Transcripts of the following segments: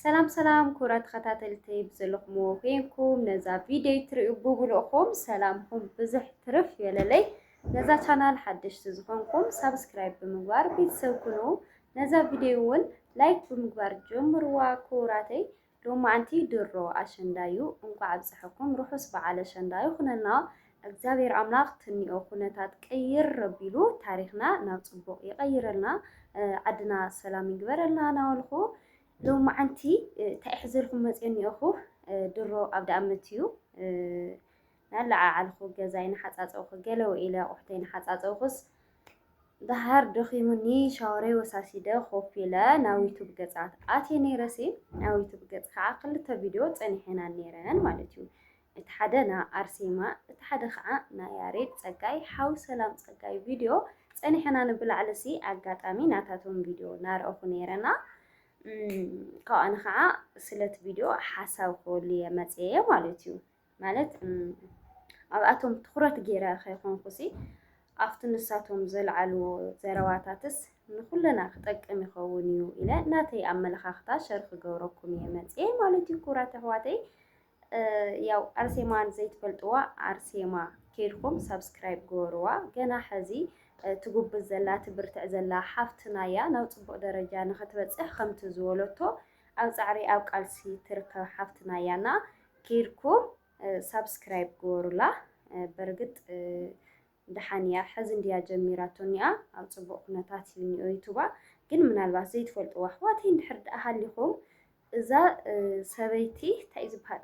ሰላም ሰላም ክቡራት ተኸታተልቲ ብዘለኹምዎ ኮይንኩም ነዛ ቪድዮ ትሪኡ ብብልእኹም ሰላምኹም ብዝሕ ትርፍ የለለይ። ነዛ ቻናል ሓደሽቲ ዝኾንኩም ሳብስክራይብ ብምግባር ቤተሰብ ኩኑ። ነዛ ቪድዮ እውን ላይክ ብምግባር ጀምርዋ ክቡራተይ። ሎማዓንቲ ድሮ ኣሸንዳ እዩ። እንኳዕ ኣብፀሐኩም ርሑስ በዓል ኣሸንዳ ይኹነልና። ኣግዚኣብሔር ኣምላክ ትንኦ ኩነታት ቅይር ኣቢሉ ታሪክና ናብ ፅቡቅ ይቀይረልና ዓድና ሰላም ይግበረልና ናበልኩ ሎማዓንቲ ታይ ሕዘልኩም መፅየ እኒኦኩ ድሮ ኣብ ዳኣመት እዩ ናለዓዓልኩ ገዛይ ናሓፃፀብኩ ገለ ውዒለ ኣቁሑተይ ናሓፃፀብኩስ ዳሃር ደኺሙኒ ሻወረይ ወሳሲደ ኮፍ ኢለ ናብ ዩቱብ ገፃት ኣትየ ነይረሲ ናብ ዩቱብ ገፅ ከዓ ክልተ ቪድዮ ፀኒሐና ነይረን ማለት እዩ እቲ ሓደ ን ኣርሴማ እቲ ሓደ ከኣ ን ያሬድ ጸጋይ ሓው ሰላም ጸጋይ ቪድዮ ጸኒሕና ን ብላዕሊሲ ኣጋጣሚ ናታቶም ቪድዮ ናረኣኩ ኔረ ን ካብኡ ኣነ ከኣ ስለቲ ቪድዮ ሓሳብ ክበሉ ኢየ መጽየ ማለት ኢዩ ማለት ኣብኣቶም ትኩረት ጌረ ከይኮንኩሲ ኣብቲ ንሳቶም ዘልዓልዎ ዘረባታትስ ንኩልና ክጠቅም ይከውን ኢዩ ኢለ ናተይ ኣመለካክታ ሸር ክገብረኩም ኢየ መጽየ ማለት ኢዩ ክቡራት ኣሕዋተይ ያው ኣርሴማ ዘይትፈልጥዋ ኣርሴማ ኬድኩም ሳብስክራይብ ግበርዋ። ገና ሕዚ ትጉብዝ ዘላ ትብርትዕ ዘላ ሓፍትና እያ። ናብ ፅቡቅ ደረጃ ንክትበፅሕ ከምቲ ዝበለቶ ኣብ ፃዕሪ ኣብ ቃልሲ ትርከብ ሓፍትና እያ እና ኬድኩም ሳብስክራይብ ግበሩላ። በርግጥ ድሓን እያ ሕዚ እንድያ ጀሚራቶ እኒኣ ኣብ ፅቡቅ ኩነታት እዩ እኒኦ ዩቱባ ግን ምናልባት ዘይትፈልጥዋ ኣሕዋተይ እንድሕር ድኣ ሃሊኹም እዛ ሰበይቲ ታይ ዝብሃል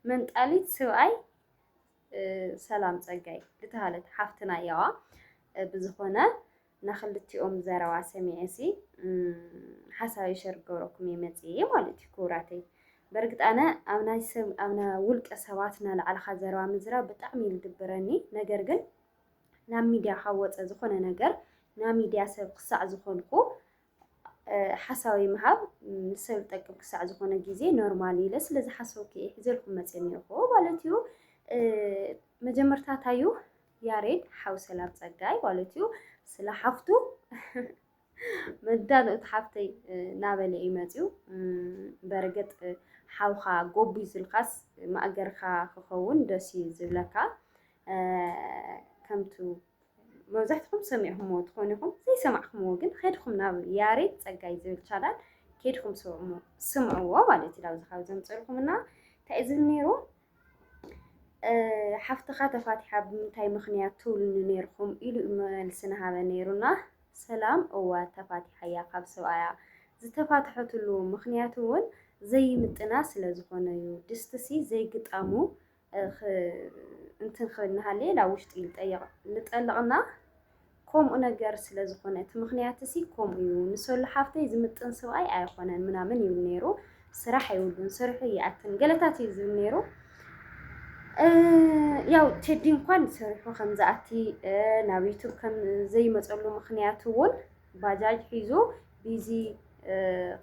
መንጣሊት ስብኣይ ሰላም ጸጋይ ድተሃለት ሓፍትና ያዋ ብዝኾነ ናክልቲኦም ዘረባ ሰሚዔሲ ሓሳበይ ሸር ክገብረኩም እየ መጽየ ማለት እዩ ክቡራተይ በርግጥ ኣነ ኣብ ናይ ሰብ ኣብ ናይ ውልቀ ሰባት ናላዕልኻ ዘረባ ምዝራብ ብጣዕሚ እዩ ዝድብረኒ ነገር ግን ናብ ሚድያ ካብ ወፀ ዝኾነ ነገር ናብ ሚድያ ሰብ ክሳዕ ዝኾንኩ ሓሳዊ ምሃብ ንሰብ ዝጠቅም ክሳዕ ዝኾነ ግዜ ኖርማል ኢለ ስለ ዝሓሰብኩ እየ ሒዘልኩም መፅየ እኒኦኹ ማለት እዩ። መጀመርታ ታዩ ያሬድ ሓው ሰላም ፀጋይ ማለት እዩ ስለ ሓፍቱ መዳንእቲ ሓፍተይ ናበለ እዩ መፅዩ በርግጥ ሓውኻ ጎቡ ዝልካስ ማእገርካ ክኸውን ደስ እዩ ዝብለካ ከምቱ መብዛሕትኹም ሰሚዕኹምዎ ትኾኑ ኢኹም፣ ዘይሰማዕኹምዎ ግን ኸድኹም ናብ ያሬድ ጸጋይ ዝብል ቻናል ኬድኩም ስምዕዎ ማለት እዩ። ኣብዚ ካብ ዘምፅልኩም እና እንታይ ዝብል ነይሩ ሓፍትኻ ተፋቲሓ ብምንታይ ምኽንያት ትብሉኒ ነይርኩም ኢሉ መልሲ ንሃበ ነይሩና። ሰላም እወ ተፋቲሓ እያ ካብ ሰብኣያ ዝተፋትሐትሉ ምኽንያት እውን ዘይምጥና ስለ ዝኾነ እዩ። ድስትሲ ዘይግጣሙ እንትን ክብል እናሃለየ ናብ ውሽጢ ይጠየቕ ልጠልቕና ከምኡ ነገር ስለ ዝኾነ እቲ ምኽንያት እሲ ከምኡ እዩ ንሰሉ ሓፍተይ ዝምጥን ስብኣይ ኣይኾነን ምናምን ይብል ነይሩ ስራሕ ኣይብሉን ስርሑ ይኣትን ገለታት እዩ ዝብል ነይሩ ያው ቴዲ እንኳን ስርሑ ከም ዝኣቲ ናብ ዩቱብ ከም ዘይመፀሉ ምኽንያት እውን ባጃጅ ሒዙ ቢዚ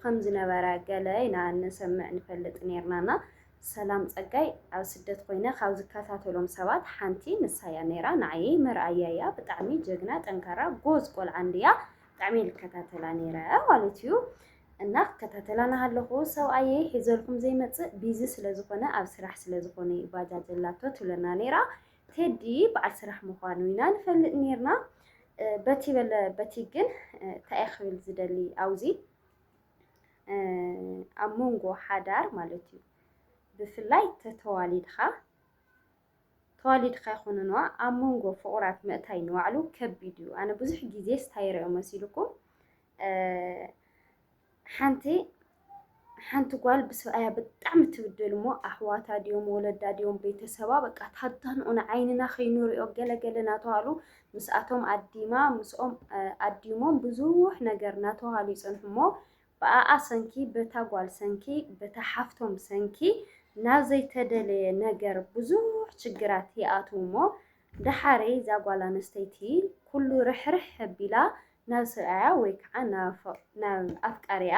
ከም ዝነበረ ገለ ኢና ንሰምዕ ንፈልጥ ነርናና ሰላም ጸጋይ ኣብ ስደት ኮይነ ካብ ዝከታተሎም ሰባት ሓንቲ ንሳያ ነይራ ንዓይይ መርኣያ እያ ብጣዕሚ ጀግና ጠንካራ ጎዝ ቆልዓ እንድያ ብጣዕሚየ ልከታተላ ነይረ ማለት እዩ እና ክከታተላ ናሃለኹ ሰብኣየይ ሒዘልኩም ዘይመጽእ ቢዚ ስለ ዝኾነ ኣብ ስራሕ ስለ ዝኾነ እዩ ባጃጅ ኣላቶ ትብለና ነይራ ቴዲ በዓል ስራሕ ምዃኑ ኢና ንፈልጥ ነይርና በቲ በለ በቲ ግን እንታይ እየ ክብል ዝደሊ ኣውዚ ኣብ መንጎ ሓዳር ማለት እዩ ብፍላይ ተተዋሊድካ ተዋሊድካ ይኹንንዋ ኣብ መንጎ ፍቑራት ምእታይ ንባዕሉ ከቢድ እዩ ኣነ ብዙሕ ግዜ ስታይረዮ መሲልኩም ሓንቲ ሓንቲ ጓል ብሰብኣያ ብጣዕሚ ትብደል እሞ ኣሕዋታ ድዮም ወለዳ ድዮም ቤተሰባ በቃ ታዳንኡን ዓይንና ከይንሪኦ ገለገለ እናተባህሉ ምስኣቶም ኣዲማ ምስኦም ኣዲሞም ብዙሕ ነገር ናተውሃሉ ይጸንሑ እሞ ብኣኣ ሰንኪ በታ ጓል ሰንኪ በታ ሓፍቶም ሰንኪ ናብ ዘይተደለየ ነገር ብዙሕ ችግራት ይኣትው እሞ ደሓሬ እዛ ጓል ኣነስተይቲ ኩሉ ርሕርሕ ኣቢላ ናብ ሰብኣያ ወይ ከዓ ናብ ኣፍቃሪኣ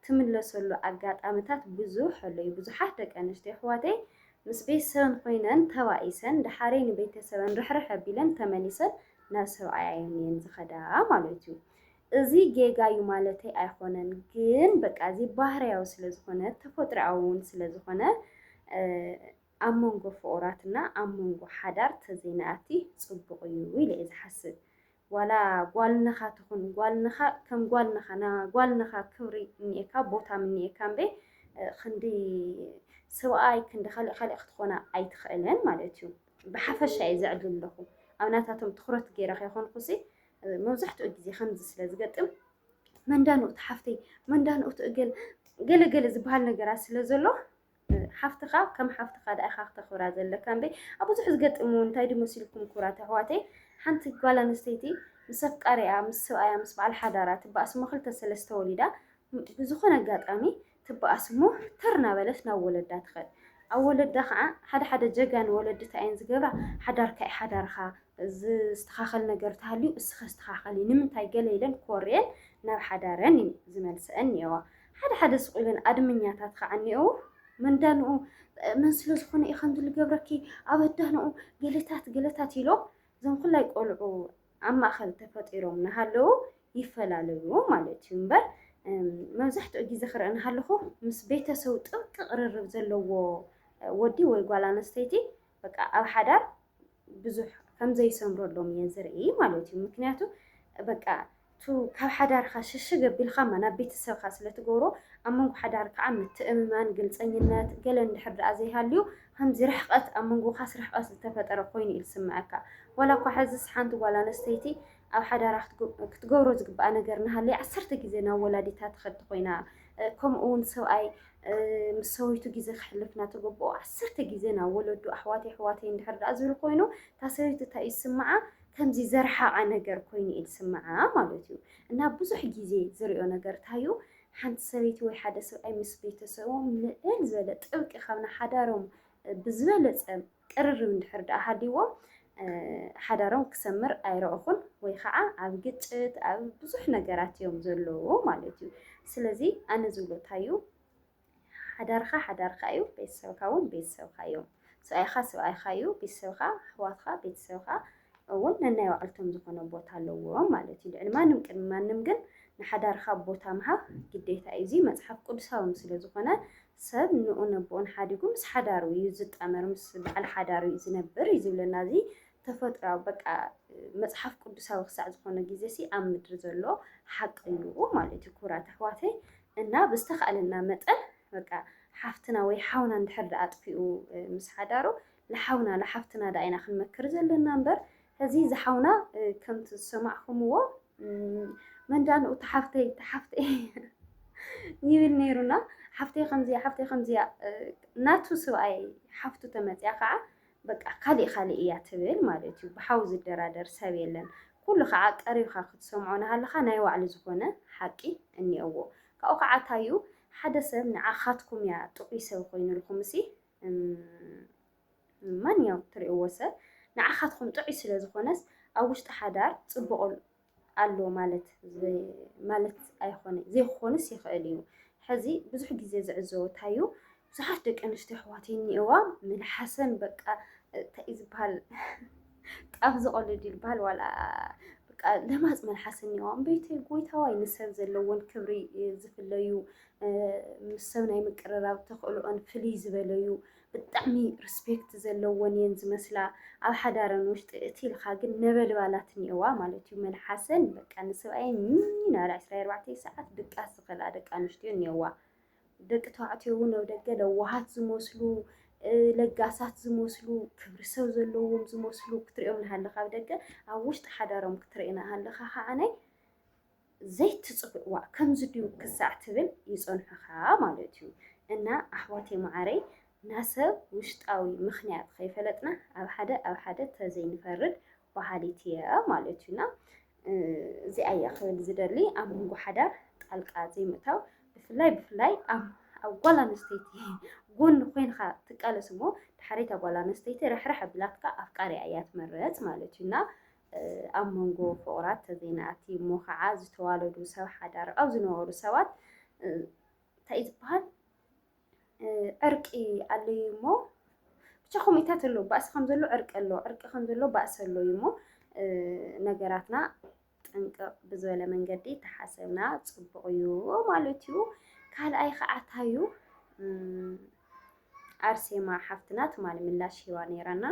ትምለሰሉ ኣጋጣምታት ብዙሕ ኣሎ እዩ። ብዙሓት ደቂ ኣንስትዮ ኣሕዋተይ ምስ ቤተሰበን ኾይነን ተባኢሰን ደሓረይ ንቤተሰበን ርሕርሕ ኣቢለን ተመሊሰን ናብ ሰብኣየን እየን ዝኸዳ ማለት እዩ። እዚ ጌጋ እዩ ማለተይ ኣይኾነን፣ ግን በቃ እዚ ባህርያዊ ስለዝኾነ ተፈጥሮኣዊ እውን ስለዝኾነ ኣብ መንጎ ፍቑራትና ኣብ መንጎ ሓዳር ተዘይንኣቲ ፅቡቕ እዩ ኢለ እየ ዝሓስብ። ዋላ ጓል ነኻ ትኹን ጓል ነኻ ከም ጓል ነኻ ን ጓል ነኻ ክብሪ እኒኤካ ቦታ ምኒኤካ እምበይ ክንዲ ስብኣይ ክንዲ ካሊእ ካሊእ ክትኾና ኣይትኽእልን ማለት እዩ ብሓፈሻ እየ ዘዕልል ኣለኹ ኣብ ናታቶም ትኹረት ገይረ ከይኾንኩሲ መብዛሕትኡ ግዜ ከምዚ ስለ ዝገጥም መንዳን እቲ ሓፍተይ መንዳን እቲ እገል ገለ ገለ ዝበሃል ነገራት ስለ ዘሎ ሓፍትኻ ከም ሓፍትኻ ድኣ ኢኻ ክተኽብራ ዘለካ እምበይ ኣብ ብዙሕ ዝገጥም እውን እንታይ ድዩ መሲልኩም ክብራት ኣሕዋተይ ሓንቲ ጓል ኣንስተይቲ ምስ ኣፍቃሪኣ ምስ ሰብኣያ ምስ በዓል ሓዳራ ትበኣስ እሞ ክልተ ሰለስተ ወሊዳ ብዝኾነ ኣጋጣሚ ትበኣስ እሞ ተር ናበለት ናብ ወለዳ ትኸድ ኣብ ወለዳ ከዓ ሓደ ሓደ ጀጋን ወለዲ እንታይ እየን ዝገብራ ሓዳርካ እዩ ሓዳርካ ዝስተኻኸል ነገር ተሃልዩ እስኸ ስተኻኸሊ ንምንታይ ገለ ኢለን ኮርየን ናብ ሓዳረን እዩ ዝመልሰአን እየዋ ሓደ ሓደ ስቕ ኢለን ኣድመኛታት ኸዓ እኒኤዉ። መንዳንኡ መን ስለ ዝኾነ እዩ ከምዚ ዝገብረኪ ኣብ ኣዳንኡ ገለታት ገለታት ኢሎም እዞም ኩላይ ቆልዑ ኣብ ማእኸል ተፈጢሮም እናሃለዉ ይፈላለዩ ማለት እዩ እምበር መብዛሕትኡ ግዜ ክርኢ እናሃለኹ ምስ ቤተሰቡ ጥብቂ ቅርርብ ዘለዎ ወዲ ወይ ጓል ኣነስተይቲ በቃ ኣብ ሓዳር ብዙሕ ከም ዘይሰምረሎም እየ ዝርኢ ማለት እዩ ምክንያቱ በቃ ቱ ካብ ሓዳርካ ሽሽግ ኣቢልካ እማ ናብ ቤተሰብካ ስለ ትገብሮ ኣብ መንጎ ሓዳር ከዓ ምትእምማን ግልፀኝነት ገለ እንድሕር ደኣ ዘይሃልዩ ከምዚ ርሕቀት ኣብ መንጎካስ ርሕቀት ዝተፈጠረ ኮይኑ እዩ ዝስምዐካ ዋላ እኳ ሕዝስ ሓንቲ ጓል ኣነስተይቲ ኣብ ሓዳራ ክትገብሮ ዝግብኣ ነገር እናሃለየ ዓሰርተ ግዜ ናብ ወላዲታ ትኸዲ ኮይና ከምኡ እውን ሰብኣይ ምስ ሰበይቱ ግዜ ክሕልፍ እናተገብኦ ዓሰርተ ግዜ ናብ ወለዱ ኣሕዋተይ ኣሕዋተይ እንድሕር ደኣ ዝብል ኮይኑ እታ ሰበይቱ እንታይ ይስምዓ ከምዚ ዘርሓቐ ነገር ኮይኑ እዩ ዝስምዓ ማለት እዩ እና ብዙሕ ግዜ ዝሪኦ ነገር እንታይ እዩ ሓንቲ ሰበይቲ ወይ ሓደ ሰብኣይ ምስ ቤተሰቦም ልዕል ዝበለ ጥብቂ ካብ ንሓዳሮም ብዝበለፀ ቅርርብ እንድሕር ድኣ ሃልይዎ ሓዳሮም ክሰምር ኣይረእኹን ወይ ኸዓ ኣብ ግጭት ኣብ ብዙሕ ነገራት እዮም ዘለዉ ማለት እዩ። ስለዚ ኣነ ዝብሎ ታይ እዩ ሓዳርኻ ሓዳርካ እዩ ቤተሰብካ እውን ቤተሰብካ እዮም። ሰብኣይኻ ሰብኣይኻ እዩ ቤተሰብካ ኣሕዋትካ ቤተሰብካ እውን ነናይ ባዕልቶም ዝኾነ ቦታ ኣለዎም ማለት እዩ። ልዕሊ ማንም ቅድሚ ማንም ግን ንሓዳርካ ቦታ ምሃብ ግዴታ እዩ። እዚ መፅሓፍ ቅዱሳዊ ስለ ዝኾነ ሰብ ንኡን ኣቦኡን ሓዲጉ ምስ ሓዳሩ እዩ ዝጣመር ምስ በዓል ሓዳሩ እዩ ዝነብር እዩ ዝብለና እዚ ተፈጥራዊ በቃ መጽሓፍ ቅዱሳዊ ክሳዕ ዝኾነ ግዜ ሲ ኣብ ምድሪ ዘሎ ሓቂ እዩ ማለት እዩ ክቡራት ኣሕዋተይ እና ብዝተኻእለና መጠን በቃ ሓፍትና ወይ ሓውና እንድሕር ደኣ ኣጥፊኡ ምስ ሓዳሩ ንሓውና ንሓፍትና ደኣ ኢና ክንመክር ዘለና እምበር እዚ ዝሓውና ከምቲ ዝሰማዕኹምዎ መንዳንኡ ተሓፍተይ ተሓፍተይ ይብል ነይሩና ሓፍተይ ከምዚያ ሓፍተይ ከምዚያ ናቱ ስብኣይ ሓፍቱ ተመፅያ ከዓ በቃ ካሊእ ካሊእ እያ ትብል ማለት እዩ። ብሓው ዝደራደር ሰብ የለን። ኩሉ ከዓ ቀሪብካ ክትሰምዖ ናሃለካ ናይ ባዕሉ ዝኾነ ሓቂ እኒኦዎ። ካብኡ ከዓ ታዩ ሓደ ሰብ ንዓኻትኩም እያ ጥዑይ ሰብ ኮይኑልኩም እሲ ማንኛውም ትሪእዎ ሰብ ንዓኻትኹም ጥዑይ ስለ ዝኾነስ ኣብ ውሽጢ ሓዳር ፅቡቕ ኣሎ ማለት ማለት ኣይኾነ ዘይክኾንስ ይኽእል እዩ። ሕዚ ብዙሕ ግዜ ዝዕዘቦ እንታይ እዩ ብዙሓት ደቂ ኣንስትዮ ኣሕዋት እኒኦዋ መልሓሰን በቃ እንታይ እዩ ዝበሃል ጣፍ ዝቐልድ እዩ ዝበሃል ዋላ በቃ ለማፅ መልሓስ እኒኦዋ እምበይተይ ጎይታዋይ ንሰብ ዘለዎን ክብሪ ዝፍለዩ ምስ ሰብ ናይ ምቅርራብ ተኽእሎኦን ፍልይ ዝበለዩ ብጣዕሚ ርስፔክት ዘለወን እየን ዝመስላ ኣብ ሓዳረን ውሽጢ እቲ ኢልካ ግን ነበልባላት እኒኦዋ ማለት እዩ መልሓሰን በቃ ንሰብኣየን ሚኒ ናብላ 24 ሰዓት ድቃስ ዝኽእላ ደቂ ኣንስትዮ እኒኦዋ ደቂ ተባዕትዮ እውን ኣብ ደገ ለዋሃት ዝመስሉ ለጋሳት ዝመስሉ ክብሪ ሰብ ዘለዎም ዝመስሉ ክትሪኦም ንሃለካ ኣብ ደገ ኣብ ውሽጢ ሓዳሮም ክትሪእና ሃለካ ከዓነይ ዘይትጽብቅ ዋእ ከምዚ ድዩ ክሳዕ ትብል ይጸንሑካ ማለት እዩ እና ኣሕዋተይ ማዓረይ ናሰብ ውሽጣዊ ምክንያት ከይፈለጥና ኣብ ሓደ ኣብ ሓደ ተዘይንፈርድ ባሃሊት እየ ማለት እዩ እና እዚኣ እያ ክብል ዝደሊ ኣብ መንጎ ሓዳር ጣልቃ ዘይምእታው ብፍላይ ብፍላይ ኣብ ኣብ ጓል ኣንስተይቲ ጎኒ ኮይንካ ትቃለስ እሞ ድሓሪታ ጓል ኣንስተይቲ ርሕርሕ ኣቢላትካ ኣፍቃሪያ እያ ትመረጽ ማለት እዩ እና ኣብ መንጎ ፍቑራት ተዘይንኣቲ እሞ ኸዓ ዝተዋለዱ ሰብ ሓዳር ኣብ ዝነበሩ ሰባት እንታይ እዩ ዝበሃል ዕርቂ ኣሎ እዩ እሞ ብቻ ከምኡታት ኣሎ ባእሲ ከም ዘሎ ዕርቂ ኣሎ ዕርቂ ከም ዘሎ ባእሲ ኣሎ እዩ እሞ ነገራትና ጥንቅቕ ብዝበለ መንገዲ ተሓሰብና ፅቡቕ እዩ ማለት እዩ። ካልኣይ ከዓ ታዩ ኣርሴማ ሓፍትና ትማሊ ምላሽ ሂባ ነይራና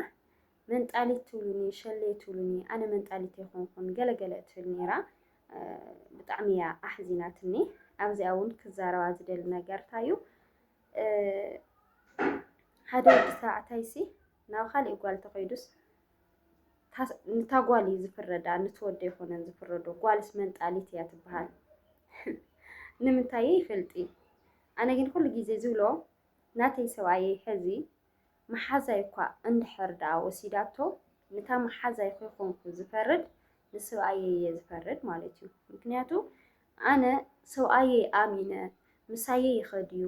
መንጣሊት ትብሉኒ ሸሌ ትብሉኒ ኣነ መንጣሊት ኣይኮንኩን ገለ ገለ እትብል ነይራ ብጣዕሚ እያ ኣሕዚናትኒ ኣብዚኣ እውን ክዛረባ ዝደሊ ነገር እንታይ እዩ ሓደ ወዲ ተባዕታይሲ ናብ ካሊእ ጓል ተኸይዱስ ንታ ጓል እዩ ዝፍረዳ ንትወደ ይኮነን ዝፍረዶ ጓልስ መንጣሊት እያ ትበሃል ንምንታይ ይፈልጢ ኣነ ግን ኩሉ ግዜ ዝብሎ ናተይ ሰብኣየ ሕዚ መሓዛይ'ኳ እንድሕር ደኣ ወሲዳቶ፣ ንታ መሓዛይ ኹይኮንኩ ዝፈርድ ንስብኣየይ'የ ዝፈርድ ማለት'ዩ። ምኽንያቱ ኣነ ሰብኣየይ ኣሚነ ምሳየይ ይኸድ'ዩ፣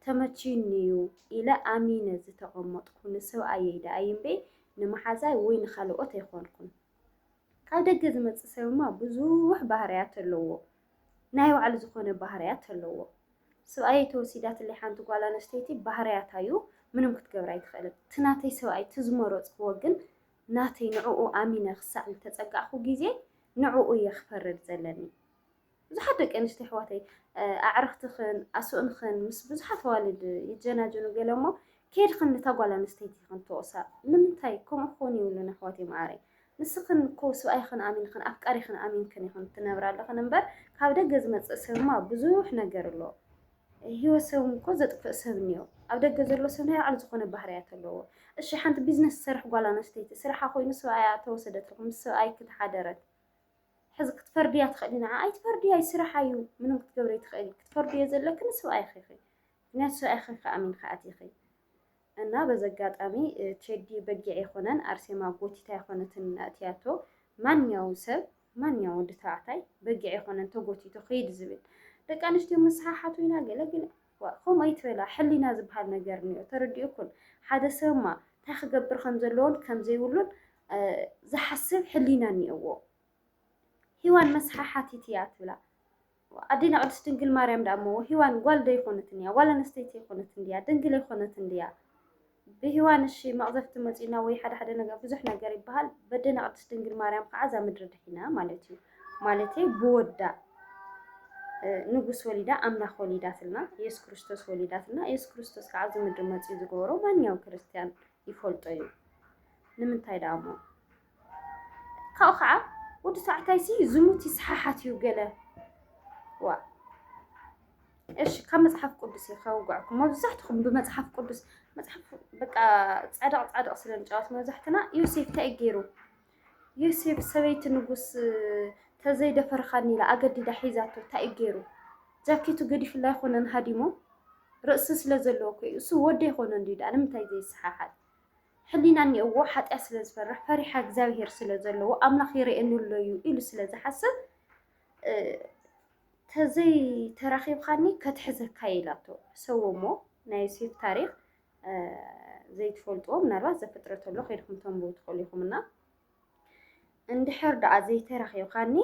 ተመችዩኒ'ዩ ኢለ ኣሚነ ዝተቐመጥኩ ንስብኣየይ ደኣ'ዩ'ምበይ ንመሓዛይ ወይ ንኻልኦት ኣይኮንኩን። ካብ ደገ ዝመጽእ ሰብ'ማ ብዙሕ ባህርያት ኣለዎ። ናይ ባዕሉ ዝኾነ ባህርያት ኣለዎ። ስብኣየይ ተወሲዳትለይ ሓንቲ ጓል ኣነስተይቲ ባህርያታ እዩ ምንም ክትገብር ኣይትኽእልን። እቲ ናተይ ሰብኣይ እቲ ዝመረፅክዎ ግን ናተይ ንዕኡ ኣሚነ ክሳዕ ዝተፀጋዕኹ ግዜ ንዕኡ እየ ክፈርድ ዘለኒ። ብዙሓት ደቂ ኣንስትዮ ኣሕዋተይ ኣዕርኽትኽን ኣስእንኽን ምስ ብዙሓት ኣዋልድ ይጀናጀኑ ገለ እሞ ከይድኽን ነታ ጓል ኣንስተይቲ ኢኽን ተወቕሳ ንምንታይ ከምኡ ክኾን የብሉን ኣሕዋተይ መዓረይ ንስኽን እኮ ስብኣይኽን ኣሚንኽን ኣፍቃሪኽን ኣሚንክን ኢኽን ትነብራ ኣለኽን እምበር ካብ ደገ ዝመጽእ ሰብማ ብዙሕ ነገር ኣሎ ሂወት ሰብ እኮ ዘጥፍእ ሰብ እንዮ ኣብ ደገ ዘሎ ሰብ ናይ ባዕሉ ዝኾነ ባህርያት ኣለዎ እሺ ሓንቲ ቢዝነስ ትሰርሕ ጓል ኣንስተይቲ ስርሓ ኮይኑ ስብኣያ ተወሰደትልኩም ምስ ስብኣይኪ ተሓደረት ሕዚ ክትፈርድያ ትኽእሊ ንዓ ኣይትፈርድያ እዩ ስርሓ እዩ ምንም ክትገብሪ ትኽእሊ ክትፈርድዮ ዘለኪ ንስብኣይኺ ኢኺ ምክንያቱ ስብኣይኺ ኣሚንኺ ኣቲኺ እና በዚ ኣጋጣሚ ቴዲ በጊዕ ኣይኮነን ኣርሴማ ጎቲት ኣይኮነትን ኣእትያቶ ማንኛውም ሰብ ማንኛውም ወዲ ተባዕታይ በጊዕ ኣይኮነን ተጎቲቱ ክይድ ዝብል ደቂ ኣንስትዮ ምስሓሓቱ ኢና ገለ ገለ ከምኡ ኣይትበላ ሕሊና ዝበሃል ነገር እኒኦ ተረዲኡኩን ሓደ ሰብማ እንታይ ክገብር ከም ዘለዎን ከም ዘይብሉን ዝሓስብ ሕሊና እኒኦዎ ሂዋን መስሓሓቲት እያ ትብላ ኣዴና ቅድስት ድንግል ማርያም ደኣ እሞ ሂዋን ጓል ዶ ኣይኮነትን እያ ጓል ኣነስተይቲ ኣይኮነትን ድያ ድንግል ኣይኮነትን ድያ ብሂዋን እሺ መቅዘፍቲ መጺኡና ወይ ሓደ ሓደ ነገር ብዙሕ ነገር ይበሃል በዴና ቅድስት ድንግል ማርያም ከዓ እዛ ምድሪ ድሒና ማለት እዩ ማለተይ ብወዳ ንጉስ ወሊዳ ኣምላኽ ወሊዳትልና ኢየሱስ ክርስቶስ ወሊዳትና ኢየሱስ ክርስቶስ ከዓ ኣብዚ ምድሪ መጺኡ ዝገበሮ ማንኛውም ክርስትያን ይፈልጦ እዩ ንምንታይ ደኣ እሞ ካብኡ ከዓ ወዲ ተባዕታይሲ ዝሙት ይሰሓሓት እዩ ገለ ዋ እሺ ካብ መፅሓፍ ቅዱስ እዩ ከውግዕኩም መብዛሕትኹም ብመፅሓፍ ቅዱስ መፅሓፍ በቃ ፃድቕ ፃድቕ ስለ ንጫወት መብዛሕትና ዮሴፍ እንታይ ገይሩ ዮሴፍ ሰበይቲ ንጉስ ተዘይደፈርኻኒ ኢላ ኣገዲዳ ሒዛቶ ታይ እዩ ገይሩ ጃኬቱ ገዲፍላ ኣይኾነን ሃዲሞ ርእሲ ስለዘለዎ እኮ እዩ እሱ ወዲ ኣይኾነን ድዩ ድኣ ንምንታይ ዘይሰሓሓት ሕሊና እኒኦዎ ሓጢኣት ስለዝፈርሕ ፈሪሓ እግዚኣብሄር ስለዘለዎ ኣምላኽ ይርእየኒ ኣሎ እዩ ኢሉ ስለዝሓስብ ተዘይ ተራኺብኻኒ ከትሕዘካ ኢላቶ ሰዎሞ ናይ ዮሴፍ ታሪኽ ዘይትፈልጥዎ ምናልባት ዘፍጥረቶ ኣሎ ከይድኩም ተንብቡ ትኽእሉ ኢኹም እና እንድሕር ደኣ ዘይተረኺብካኒ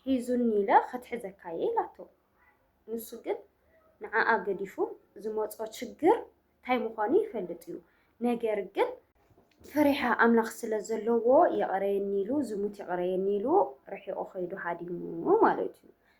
ሒዙኒ ኢለ ከትሕዘካ እየ ኢላቶ ንሱ ግን ንዓኣ ገዲፉ ዝመፆ ችግር እንታይ ምዃኑ ይፈልጥ እዩ ነገር ግን ፈሪሓ ኣምላኽ ስለ ዘለዎ የቕረየኒ ኢሉ ዝሙት የቕረየኒ ኢሉ ርሒቑ ከይዱ ሃዲሙ ማለት እዩ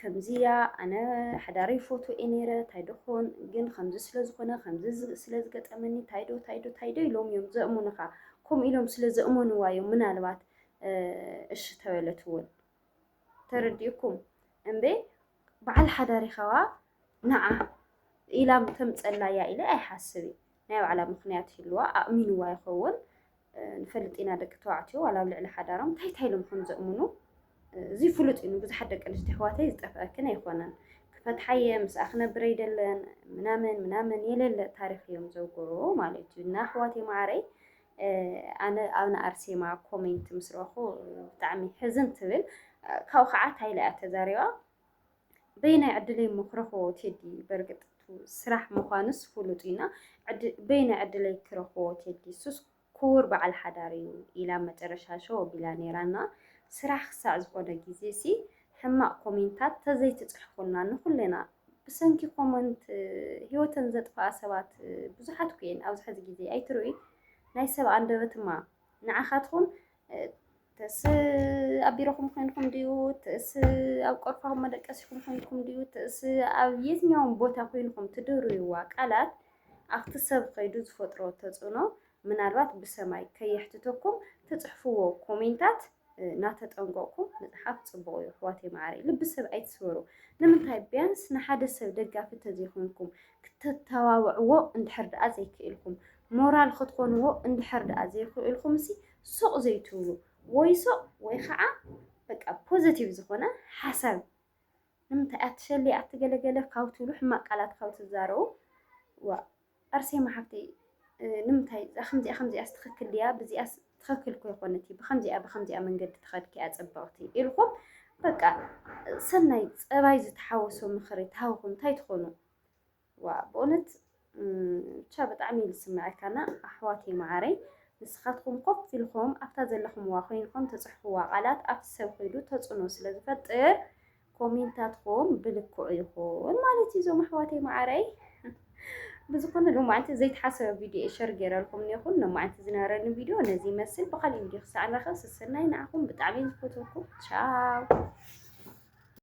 ከምዚ እያ ኣነ ሓዳረይ ፎቶ እየ ነይረ እንታይ ደኾን ግን ከምዚ ስለ ዝኾነ ከምዚ ስለ ዝገጠመኒ እንታይ ዶ እንታይ ዶ እንታይ ዶ ኢሎም እዮም ዘእሙንኻ ከምኡ ኢሎም ስለ ዘእመንዋ እዮም ምናልባት እሺ ተበለት እውን ተረዲእኩም እምበ በዓል ሓዳሪ ኸዋ ንዓ ኢላም ተምፀላ እያ ኢለ ኣይሓስብ እዩ ናይ ባዕላ ምክንያት ይህልዋ ኣእሚንዋ ይኸውን ንፈልጥ ኢና ደቂ ተባዕትዮ ዋላ ኣብ ልዕሊ ሓዳሮም እንታይ እንታይ ኢሎም ከም ዘእምኑ እዚ ፍሉጥ እዩ ንብዙሓት ደቂ ኣንስትዮ ኣሕዋተይ ዝጠፍኣክን ኣይኮነን ክፈትሓየ ምስኣ ክነብር ኣይደለን ምናምን ምናምን የለለ ታሪክ እዮም ዘውግሩ ማለት እዩ እና ኣሕዋተይ ማዓረይ ኣነ ኣብ ንኣርሴማ ኮሜንት ምስ ረኹ ብጣዕሚ ሕዝን ትብል ካብኡ ከዓ ታይላ እያ ተዛሪባ በየናይ ዕድለይ እሞ ክረኽቦ ቴዲ በርግጥ እቱ ስራሕ ምዃኑስ ፍሉጥ እዩና በየናይ ዕድለይ ክረኽቦ ቴዲ እሱስ ክቡር በዓል ሓዳር እዩ ኢላ ኣብ መጨረሻ ሸው ኣቢላ ነይራና ስራሕ ክሳዕ ዝኾነ ግዜ ሲ ሕማቕ ኮሜንታት ተዘይትፅሕፉልና ንኹልና ብሰንኪ ኮመንት ህይወተን ዘጥፍኣ ሰባት ብዙሓት ኩየን ኣብዚ ሕዚ ግዜ ኣይትርእይ ናይ ሰብ ኣንደበትማ ንዓኻትኩም ትእስ ኣብ ቢሮኹም ኮይንኩም ድዩ ትእስ ኣብ ቆርፋኹም መደቀሲኹም ኮይንኩም ድዩ ትእስ ኣብ የትኛውም ቦታ ኮይንኩም ትድርብዋ ቃላት ኣብቲ ሰብ ከይዱ ዝፈጥሮ ተጽዕኖ ምናልባት ብሰማይ ከየሕትተኩም ትጽሕፍዎ ኮሜንታት እናተጠንቀቕኩም ምጽሓፍ ጽቡቕ እዩ ኣሕዋተይ መዓረይ ልቢ ሰብ ኣይትስበሩ ንምንታይ ቢያንስ ንሓደ ሰብ ደጋፊ ተዘይኮንኩም ክተተባብዕዎ እንድሕር ደኣ ዘይክእልኩም ሞራል ኽትኮንዎ እንድሕር ድኣ ዘይኽእልኩምሲ ሱቕ ዘይትብሉ ወይ ሱቕ ወይ ኽዓ በቃ ፖዘቲቭ ዝኾነ ሓሳብ ንምንታይ ኣትሸሊ ኣቲ ገለ ገለ ካብ ትብሉ ሕማቕ ቃላት ካብ ትዛረቡ ዋእ ኣርሴማ ሓፍተይ ንምንታይ እዛ ከምዚኣ ከምዚኣስ ትኽክል ድያ ብዚኣስ ትኽክል እኮ ይኮነት እዩ ብከምዚኣ ብከምዚኣ መንገዲ ትኸድኪ እያ ፅብቕቲ ኢልኩም በቃ ሰናይ ፀባይ ዝተሓወሶ ምኽሪ ተሃውኹም እንታይ ትኾኑ? ዋእ በእውነት ብቻ ብጣዕሚ እዩ ዝስመዐካ እና ኣሕዋተይ መዓረይ ንስኻትኩም ኮፍ ኢልኹም ኣብታ ዘለኹምዋ ኮይንኩም ትፅሕፍዋ ቃላት ኣብቲ ሰብ ኮይዱ ተፅዕኖ ስለ ዝፈጥር ኮሜንታትኩም ብልክዑ ይኹን ማለት እዩ እዞም ኣሕዋተይ መዓረይ ብዝኾነ ሎማዓንቲ ዘይተሓሰበ ቪድዮ ሸር ገይረልኩም እኒኹን ሎማዓንቲ ዝነበረኒ ቪድዮ ነዚ ይመስል ብካሊእ ቪድዮ ክሳዕ ንረኸብ ስስናይ ንዓኹም ብጣዕሚ ዝፈትወኩም ቻው